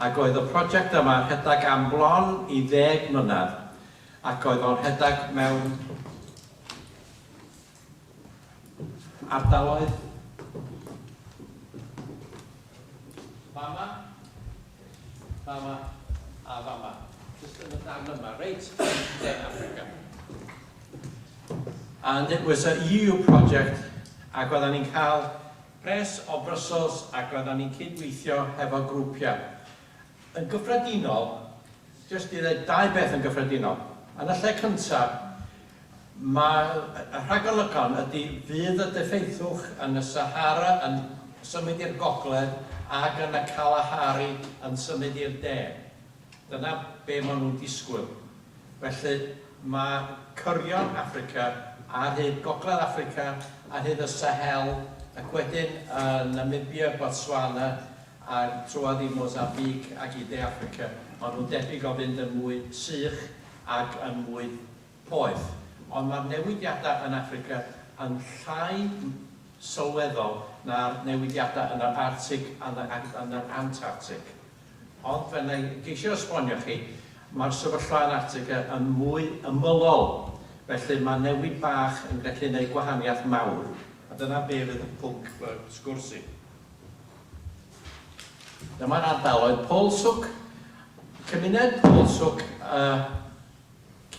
Ac oedd y project yma rhedeg am bron i ddeg mlynedd, ac oedd o'n rhedeg mewn ardaloedd fama, fama, a fama, jyst yn y darn yma, reit yn De Affrica. And it was a EU project, ac oeddan ni'n cael Pres o Brussels ac roeddan ni'n cyd-weithio hefo grwpiau. Yn gyffredinol, jyst i ddeud dau beth yn gyffredinol, yn y lle cyntaf, mae y rhagolygon ydy fydd y deffeithiwch yn y Sahara yn symud i'r gogledd ac yn y Kalahari yn symud i'r de. Dyna be maen nhw'n disgwyl. Felly, mae cyrion Affrica, a hyd Gogledd Affrica, a hyd y Sahel, ac wedyn yn Namibia, Botswana, a trwodd i Mozambique ac i De Affrica, maen nhw'n debyg o fynd yn mwy sych ac yn mwy poeth. Ond mae'r newidiadau yn Affrica yn llai sylweddol na'r newidiadau yn yr Arctig a yn yr Antarctig. Ond fel na i geisio esbonio chi, mae'r sefyllfa yn Attica yn mwy ymylol, felly mae newid bach yn gallu gwneud gwahaniaeth mawr, a dyna be fydd y pwnc fy sgwrs i. Dyma'r ardaloedd Polsuk, cymuned Polsuk y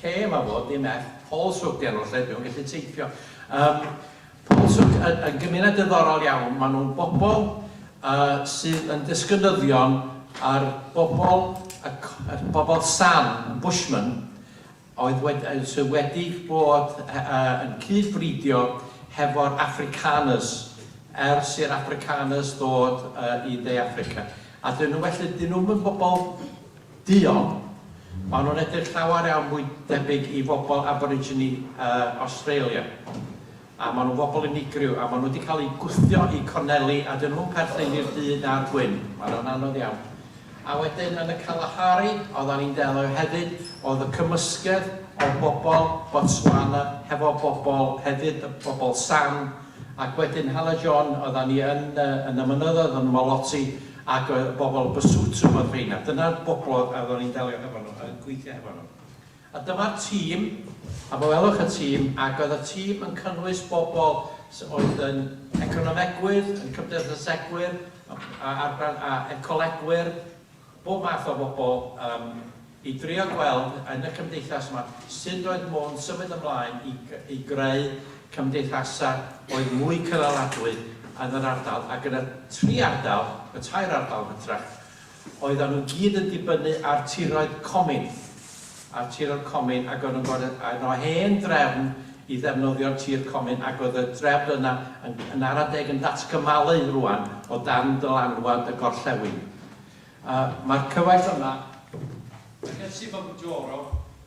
Lle mae fo? Dim ell. Paul Sook 'di enw'r lle, dwi'm yn gallu teipio. Yym, Paul Sook yn yn gymuned diddorol iawn. Maen nhw'n bobl yy sydd yn disgynyddion ar bobl y c- y bobl San, y Bushmen, oedd wed- yy sydd wedi bod he- yy yn cyd-fridio hefo'r Afrikaners ers i'r Afrikaners ddod yy i De Affrica. A 'dyn nhw felly, 'dyn nhw'm yn bobl Duon. Maen nhw'n edrych llawer iawn fwy debyg i fobl Aborigine Australia. A maen nhw'n fobl unigryw, a maen nhw wedi cael eu gwthio i corneli, a dyn nhw'm perthyn i'r du na'r gwyn. Maen nhw'n anodd iawn. A wedyn yn y Kalahari, oeddan ni'n delio hefyd, oedd y cymysgedd o bobl Botswana hefo bobl hefyd, y bobl San, ac wedyn Hale John, oeddan ni yn y yn y mynyddoedd yn Molotsy, Ac oedd bobl Basotho oedd rheina. Dyna'r bobl oedd oedd o'n i'n delio hefo nhw, yn gweithio hefo nhw. A dyma'r tîm, a fe welwch y tîm, ac oedd y tîm yn cynnwys bobl sy oedd yn economegwyr, yn cymdeithasegwyr, a a a ecolegwyr, bob math o bobl, yym, i drio gweld yn y cymdeithas yma sut oedd modd symud ymlaen i i greu cymdeithasau oedd mwy cynaladwy yn yr ardal ac yn y tri ardal, y tair ardal yn hytrach, oeddan nhw gyd yn dibynnu ar tiroedd comin, ar tiroedd comin ac o'n nhw'n gorfod yn o hen drefn i ddefnyddio'r tir comin ac oedd y drefn yna yn yn ara deg yn datgymalu rŵan o dan dylanwad y gorllewin. A mae'r cyfaill yma, Merched Sivamujoro,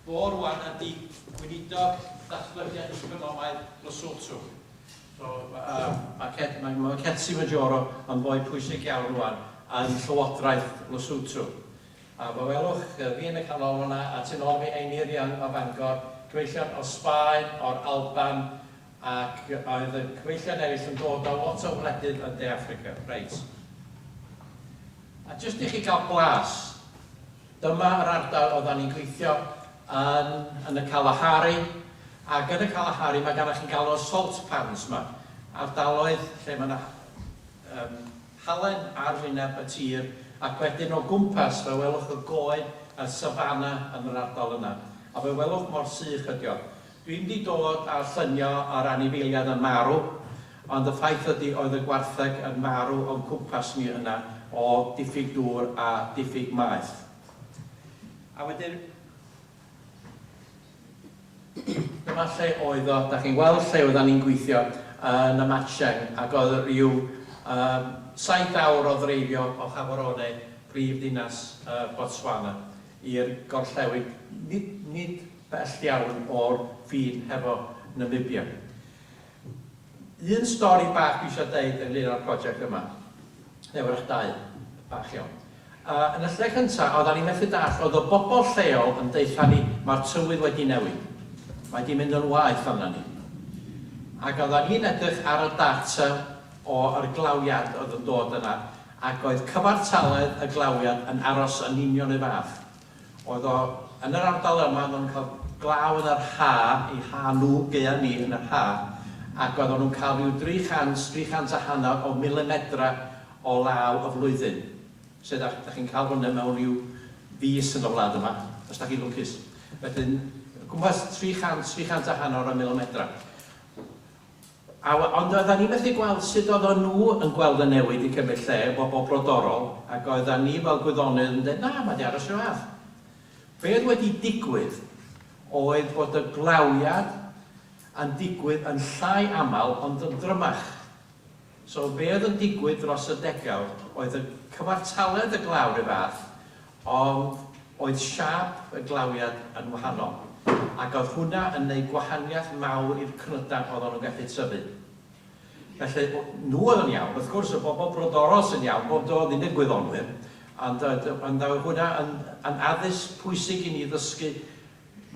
fo rwan ydi Gweinidog Datblygiad Economaidd Lesotho. So, Merched, mae Merched Sivamujoro yn foi pwysig iawn rwan yn Llywodraeth Lesotho. A fe welwch fi yn y canol fan'na, a tu nôl fi Einiryong o Fangor, cyfeillion o Sbaen, o'r Alban, Ac oedd y cyfeillion eraill yn dod o lot o wledydd yn De Affrica. Reit. A jyst i chi gael blas, dyma yr ardal oeddan ni'n gweithio yn, yn y Kalahari, ac yn y Kalahari mae gennych chi'n galw'r salt pans yma, ardaloedd lle mae yna um, halen ar wyneb y tir, ac wedyn o gwmpas fe welwch y goed a'r safana yn yr ardal yna, a fe welwch mor sych ydi o. Dwi'm di dod â llunio o'r anifeiliad yn marw, ond y ffaith ydi oedd y gwartheg yn marw o'n cwmpas ni yna o diffyg dŵr a diffyg maeth. A wedyn dyma lle oedd o, dach chi'n gweld lle oeddan ni'n gweithio yn y Matcheng ac oedd ryw saith awr o ddreifio o Gaborone, prif ddinas Botswana. i'r gorllewin, nid nid bell iawn o'r ffin hefo Namibia. Un stori bach dwi isio deud ynglyn â'r project yma, neu wrach dau bach iawn. Yy yn y lle cynta, oeddan ni methu dallt, oedd y bobl lleol yn deutha ni, ma'r tywydd wedi newid. Mae 'di mynd yn waeth arna ni. Ac oeddan ni'n edrych ar y data o yr glawiad oedd yn dod yna, Ac oedd cyfartaledd y glawiad yn aros yn union 'r un fath. Oedd o yn yr ardal yma, oedden nhw'n cael glaw yn yr ha', eu ha' nhw, gaeaf ni, yn yr ha', ac oedden nhw'n cael rhyw 300, 300 a hanner o milimedrau o law y flwyddyn. Sut dach, dach chi'n cael hwnna mewn rhyw fis yn y wlad yma, os dach chi'n lwcus. Wedyn, gwmpas 300, 300 a hanner o milimedrau. A we- ond oeddan ni methu gweld sut oeddan nhw yn gweld y newid i cymryd lle, bobl brodorol, ac oeddan ni fel gwyddonydd yn deud, na, mae 'di aros 'r un fath. Be' oedd wedi digwydd oedd bod y glawiad yn digwydd yn llai aml ond yn drymach. So be' oedd yn digwydd dros y degawd oedd y cyfartaledd y glaw 'r un fath, Ond oedd siâp y glawiad yn wahanol, ac oedd hwnna yn neud gwahaniaeth mawr i'r cnydau oeddan nhw'n gallu tyfu. Felly, nhw oedd yn iawn. Wrth gwrs, y bobl brodorol sy'n iawn, bob do, ddim i'r gwyddonwyr, ond oedd, ond oedd hwnna yn, yn addysg pwysig i ni ddysgu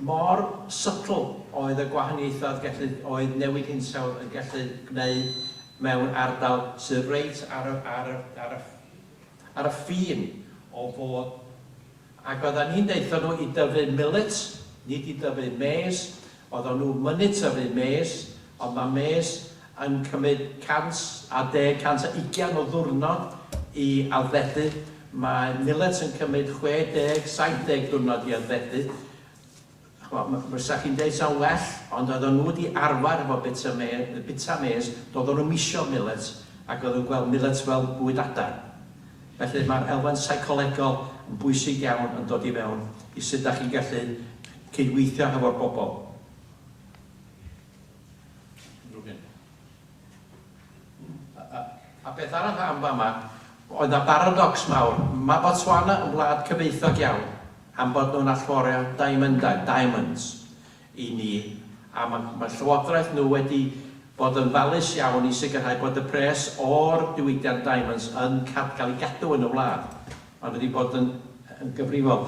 mor subtle oedd y gwahaniaethau oedd gallu, oedd newid hinsawdd yn gallu gwneud mewn ardal sydd reit ar y, ar y, ar y, ar y ffin o fod ac oeddan ni'n deutho nhw i dyfu millet, nid i dyfu mês, oeddan nhw mynnu tyfu mês, ond ma' mês yn cymyd 110, 120 o ddiwrnod i addfedu, mae millet yn cymyd 60, 70 diwrnod i addfedu. Ch'mod, fysa chi'n deud 'sa'n well, ond oedden nhw 'di arfer efo bita me- yy bita mês, doedden nhw'm isio milets, ac oedden nhw'n gweld milets fel bwyd adar. Felly mae'r elfen seicolegol yn bwysig iawn yn dod i fewn i sut dach chi'n gallu cydweithio hefo'r bobl. Unrhyw un. A beth arall am fama, oedd 'na baradocs mawr. Mae Botswana yn wlad cyfoethog iawn am bod nhw'n allforio diamyndau, diamonds, i ni, a ma' ma' llywodraeth nhw wedi bod yn falus iawn i sicrhau bod y pres o'r diwydiant diamonds yn cad- cael ei gadw yn y wlad. Maen nhw wedi bod yn yn gyfrifol.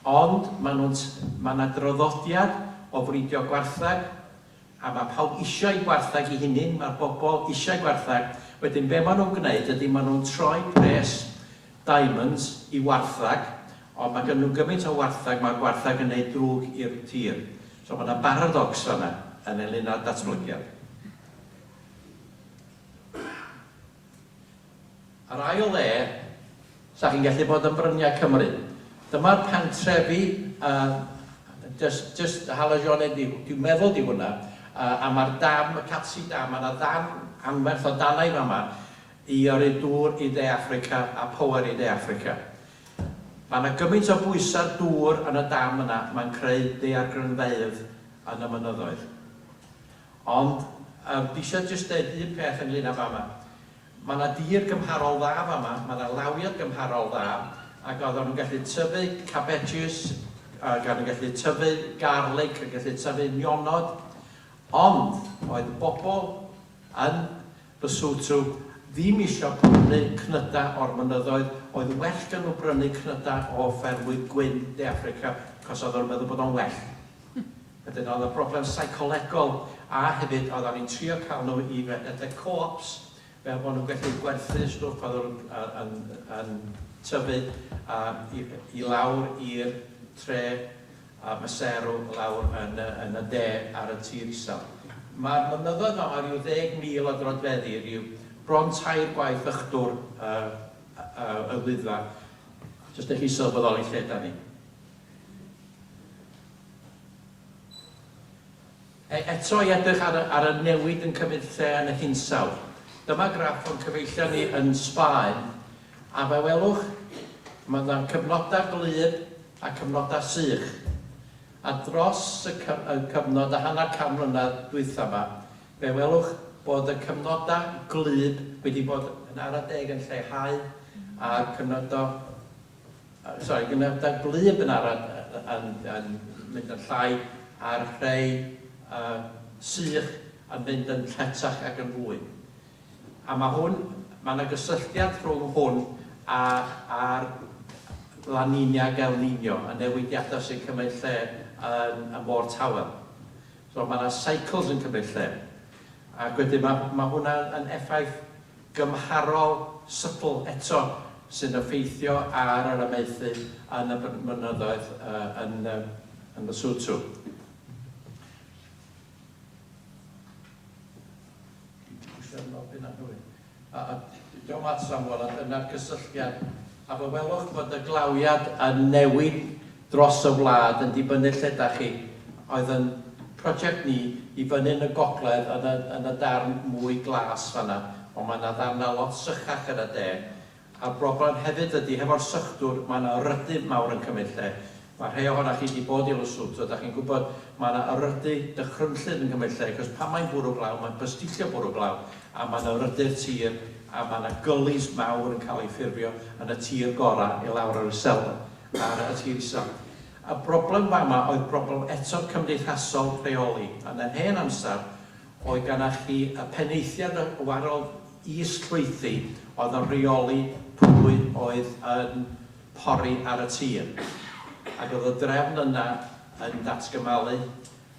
Ond maen nhw'n t- ma' 'na draddodiad o fridio gwartheg, a ma pawb isio i gwarthag i hunyn ma'r bobol isio gwarthag wedyn be ma nw'n gneud ydi ma nw'n troi pres diamonds i warthag ond ma gynnyn nw gymint o warthag ma'r gwarthag yn neud drwg i'r tir so ma na baradocs fana yn englyn â'r datblygiad. Ar ail le, sa chi'n gallu bod yn Bryniau Cymru. Dyma'r pentrefi a jyst jyst hala Jeanne di di meddwl di hwnna a a ma'r dam, y Catsi Dam, ma' 'na ddarn anferth o danau fama i yrru dŵr i De Affrica a power i De Affrica. Ma' 'na gymaint o bwysau dŵr yn y dam yna, mae'n creu daeargrynfeydd yn y mynyddoedd. Ond yym dwi isio jyst deud un peth ynglŷn â fama. Ma' 'na dir gymharol dda fama, ma' 'na lawiad gymharol dda, ac oeddan nhw'n gallu tyfu cabejis, ac o'n nhw'n gallu tyfu garlig, yn gallu tyfu nionod, ond oedd y bobl yn Basotho ddim isio prynu cnydau o'r mynyddoedd, oedd well gen nhw brynu cnydau o ffermwydd gwyn De Affrica, achos oeddan nhw'n meddwl bod o'n well. Wedyn oedd y broblem seicolegol a hefyd oeddan ni'n trio cael nhw i redeg co-ops fel bod nhw'n gallu gwerthu stwff oedd yn yn yn tyfu yy i i lawr i'r tre a maseru lawr yn y yn y de ar y tir isel. Ma'r mynyddoedd yma o ryw ddeg mil o drodfeddi ryw bron tair gwaith ychdwr y y y Wyddfa jyst dych chi'n sylweddoli lle dan ni. Eto i edrych ar y ar y newid yn cymryd lle yn y hinsawdd. Dyma graff o'n cyfeillion ni yn Sbaen, a fe welwch, mae yna cyfnodau gwlyb a cyfnodau sych. A dros y cy- y cyfnod a hanner can mlynedd dwytha 'ma, fe welwch bod y cyfnodau gwlyb wedi bod yn ara deg yn lleihau, a'r cyfnodau Sori, dwi'n meddwl bod blu yn Benaran yn yn mynd yn llai a'r rhei yy sych yn mynd yn lletach ac yn fwy. A ma' hwn, ma' 'na gysylltiad rhwng hwn a a'r La Niña ac El Niño, y newidiadau sy'n cymryd lle yn y Môr Tawel. So ma' 'na cycles yn cymryd lle. Ac wedyn ma' ma' hwnna yn effaith gymharol sybl eto sy'n effeithio ar yr amaethu yn y mynyddoedd yn Lesotho. Dwi di pwsio yn ôl byn anghywir. Diolch at Samwel a dyna'r cysylltiad. A fe welwch bod y glawiad yn newid dros y wlad yn dibynnu lle da chi, oedd yn project ni i fyny yn y gogledd yn y yn y darn mwy glas fanna, ond mae yna ddarnau lot sychach yn y de, a'r broblem hefyd ydy hefo'r sychdwr mae yna yrydŷ mawr yn cymryd lle, mae rhei ohona chi di bod i Lesotho da chi'n gwybod mae yna yrydŷ dychrynllyd yn cymryd lle cos pan mae'n bwrw glaw mae'n bysticio bwrw glaw a mae yna yrydŷ'r tir a mae yna gullies mawr yn cael ei ffurfio yn y tir gorau i lawr yr iselder. ar y tîm isaf. Y broblem fama oedd broblem eto cymdeithasol rheoli. Yn yr hen amser, oedd gennych chi y penaethiad a warodd is-llwythi oedd yn rheoli pwy oedd yn pori ar y tir, ac oedd y drefn yna yn datgymalu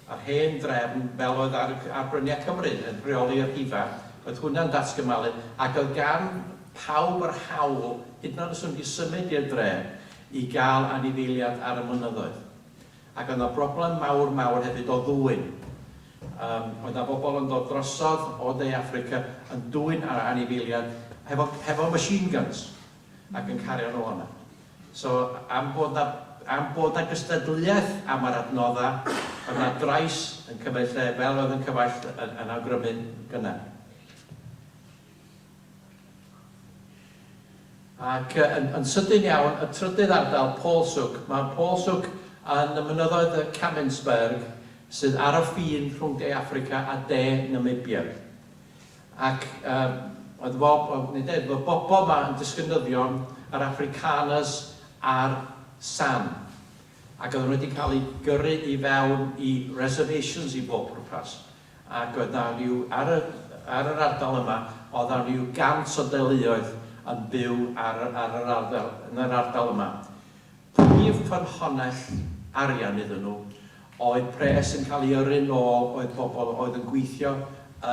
a'r hen drefn fel oedd ar ar bryniau Cymru yn rheoli y rhifa, oedd hwnna'n datgymalu ac oedd gan pawb yr hawl, hyd yn oed os o'n nhw wedi symud i'r dre, i gael anifeiliad ar y mynyddoedd. Ac oedd 'na broblem mawr mawr hefyd o ddwyn. Yym oedd 'na bobl yn dod drosodd o De Affrica yn dwyn anifeiliad hefo hefo machine guns. ac yn cario'n ôl yna. So, am bod 'na, am bod 'na gystadleuaeth am yr adnoddau, oedd 'na drais yn cymryd lle, fel oedd yn Cyfaill yn yn awgrymu'n gynnar. Ac yn yn sydyn iawn, y trydydd ardal, Paulshoek. Mae Paulshoek yn y mynyddoedd y Kaminsberg, sydd ar y ffin rhwng De Affrica a De Namibia. Ac yym oedd Rob yn yn deud bod y bobl 'ma yn disgynyddion yr Afrikaners a'r San. Ac oedden nhw wedi cael eu gyrru i fewn i reservations i bob pwrpas. Ac oedd 'na ryw, ar y, ar yr ardal yma, oedd 'na ryw gant o deuluoedd yn byw ar y, ar yr arddel, yn yr ardal yma. Prif ffynhonnell arian iddyn nhw oedd pres yn cael ei yrru'n ôl oedd pobl oedd yn gweithio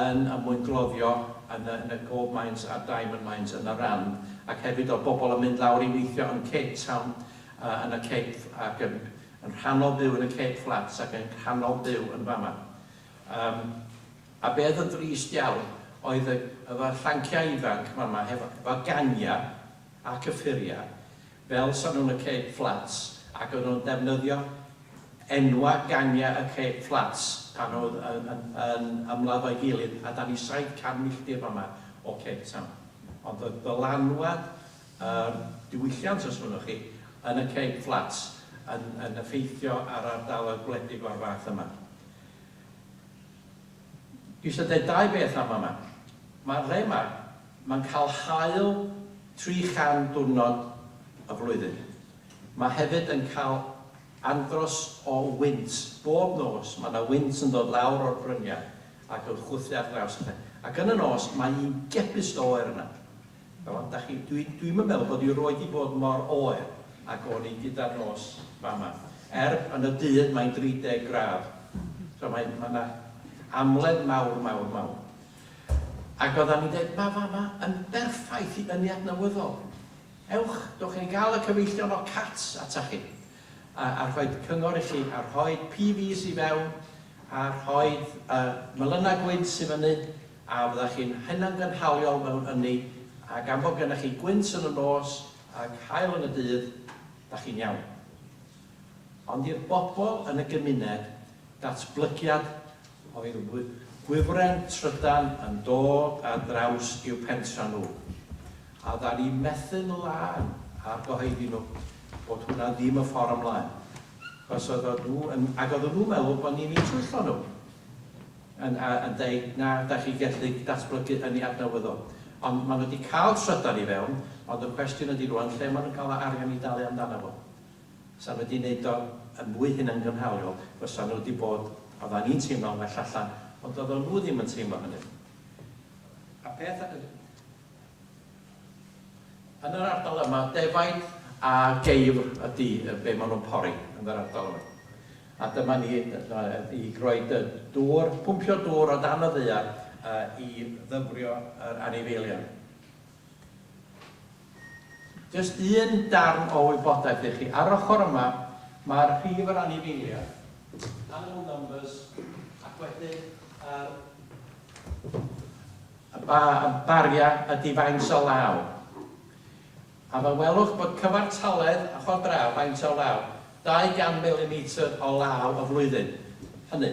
yn y mwyngloddio yn y yn y gold mines a'r diamond mines yn y ran ac hefyd oedd bobl yn mynd lawr i weithio yn Cape Town yy yn y Cape ac yn yn rhannol byw yn y Cape Flats ac yn rhannol byw yn fama yym a be oedd yn drist iawn oedd y y fy llanciau ifanc fama hefo efo gangiau ac y ffuriau fel Safon y Ceg Fflats ac oedden nhw'n defnyddio enwau gangiau y Ceg Fflats pan oedd yn ymladd o'i gilydd a dan ni 700 milltir fama o Cape Town ond oedd dylanwad yr diwylliant os mynnwch chi yn y Ceg Fflats yn effeithio ar ardaloedd gwledig o'r fath yma. Dwi isio deud dau beth am fama. Mae dde 'ma, mae'n cael haul 300 diwrnod y flwyddyn. Mae hefyd yn cael andros o wynt. Bob nos mae 'na wynt yn dod lawr o'r bryniau ac yn chwythu ar draws y lle. Ac yn y nos mae un gepus o oer yna. Wel, dach chi, dwi, dwi'm yn meddwl bod i 'roed 'di bod mor oer ag o'n i gyda'r nos fama. Er, yn y dydd mae'n 30 gradd, so mae, mae 'na amledd mawr, mawr, mawr. Ac oeddan ni'n deud, ma' fama yn berffaith i ynni adnewyddol. Ewch, dowch i ni gael y cyfeillion o Cats atach chi. a rhoid cyngor i chi, a rhoid PVs i fewn, a rhoid y melyna gwynt sydd fyny, a fyddech chi'n hunangynhaliol mewn ynni, a gan fod gennych chi gwynt yn y nos ac haul yn y dydd, da chi'n iawn. Ond i'r bobl yn y gymuned, datblygiad oedd gwifren trydan yn dod ar draws i'w pentra nhw, a oddan ni'n methu'n lân ar gyhoeddi nhw, bod hwnna ddim y ffor ymlaen, achos oeddan nhw yn, ac oeddan nhw'n meddwl bod ni'n eu twyllo nhw, yn a yn deud, na, da chi gellu datblygu hynny adnewyddol. Ond ma' nhw 'di cael trydan i fewn, ond y cwestiwn ydi rŵan lle ma' nhw'n cael yr arian i dalu amdano fo. 'sa wedi neud o yn fwy hunangynhaliol fysa nhw 'di bod, odda ni'n teimlo'n well allan, ond dodda nhw ddim yn teimlo hynny. A peth y-. Yn yr ardal yma, defaid a geifr ydi be ma nhw'n pori yn yr ardal yma. A dyma ni i roi dŵr, pwmpio dŵr o dan y ddaear i ddyfrio yr anifeiliaid. Jyst un darn o wybodaeth i chi, ar yr ochr yma mae'r rhif yr anifeiliaid, animal numbers, ac wedyn yr y ba, y baria ydi faint o law. A fe welwch bod cyfartaledd, ochr o draw, faint o law, 200 milimetr o law y flwyddyn. Hynny.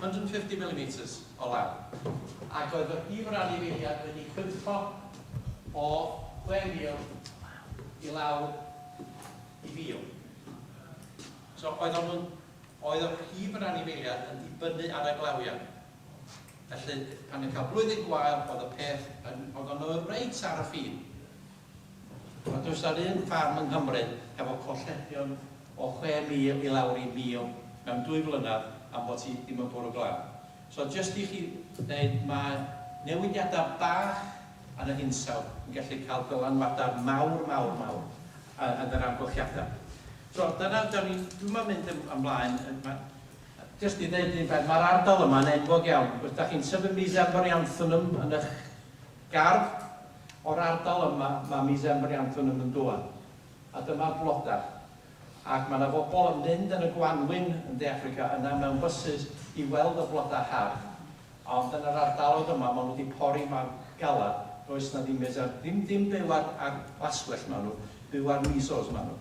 150 millimetres o law, ac oedd fy rhif ran i'r eiliad wedi cwympo o 6,000 i lawr i 1,000. So, oeddan nhw'n... oedd y rhif yr anifeiliaid yn dibynnu ar y glawiad. Felly, pan ni'n cael blwyddyn gwael, oedd y peth yn... oeddan nhw reit ar y ffin. Ond does 'na ddim ffarm yng Nghymru hefo colledion o 6,000 i lawr i 1,000 mewn dwy flynedd am bo' ti ddim yn bwrw glaw. So jyst i chi ddeud mae newidiada bach yn y hinsawdd yn gallu cael dylanwada mawr mawr mawr yn yr amgylchiada. So dyna da ni'n, dwi'm yn mynd yn ymlaen yy ma- jyst i ddeud un peth, mae'r ardal yma'n enwog iawn, os da chi'n tyfu Mesembryanthemum yn y'ch Gardd, O'r ardal yma mae Miss Emily Anthon yn mynd ŵan. A dyma'r blodau. Ac mae 'na fobl yn mynd yn y gwanwyn yn De Affrica yna mewn bysus i weld y blodau hardd. Ond yn yr ardaloedd yma maen nhw 'di pori mor galed, does 'na ddim Miss Em-. Ddim dim byw ar ar laswellt maen nhw, byw ar measles maen nhw.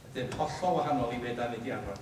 Ydyn, hollol wahanol i be' 'dan ni 'di arfer.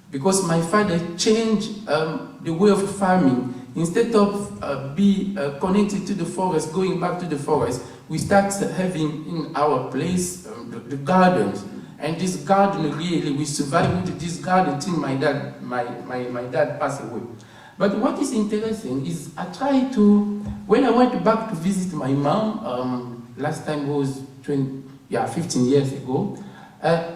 Because my father changed um the way of farming instead of uh be uh connected to the forest going back to the forest we start having in our place um the, the gardens and this garden really we survive with this garden till my dad my my my dad passed away but what is interesting is I try to when I went back to visit my mom um last time was 20 yeah 15 years ago uh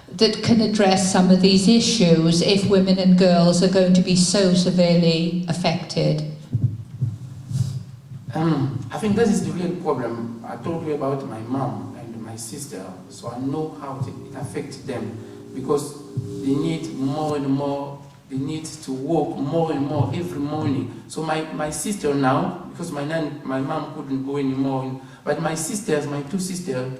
Did can address some of these issues if women and girls are going to be so severely affected? Umm I think that is the real problem I told you about my mom and my sister so I know how it affects them because they need more and more they need to walk more and more every morning so my my sister now because my nan my mom couldn't go anymore but my sisters my two sisters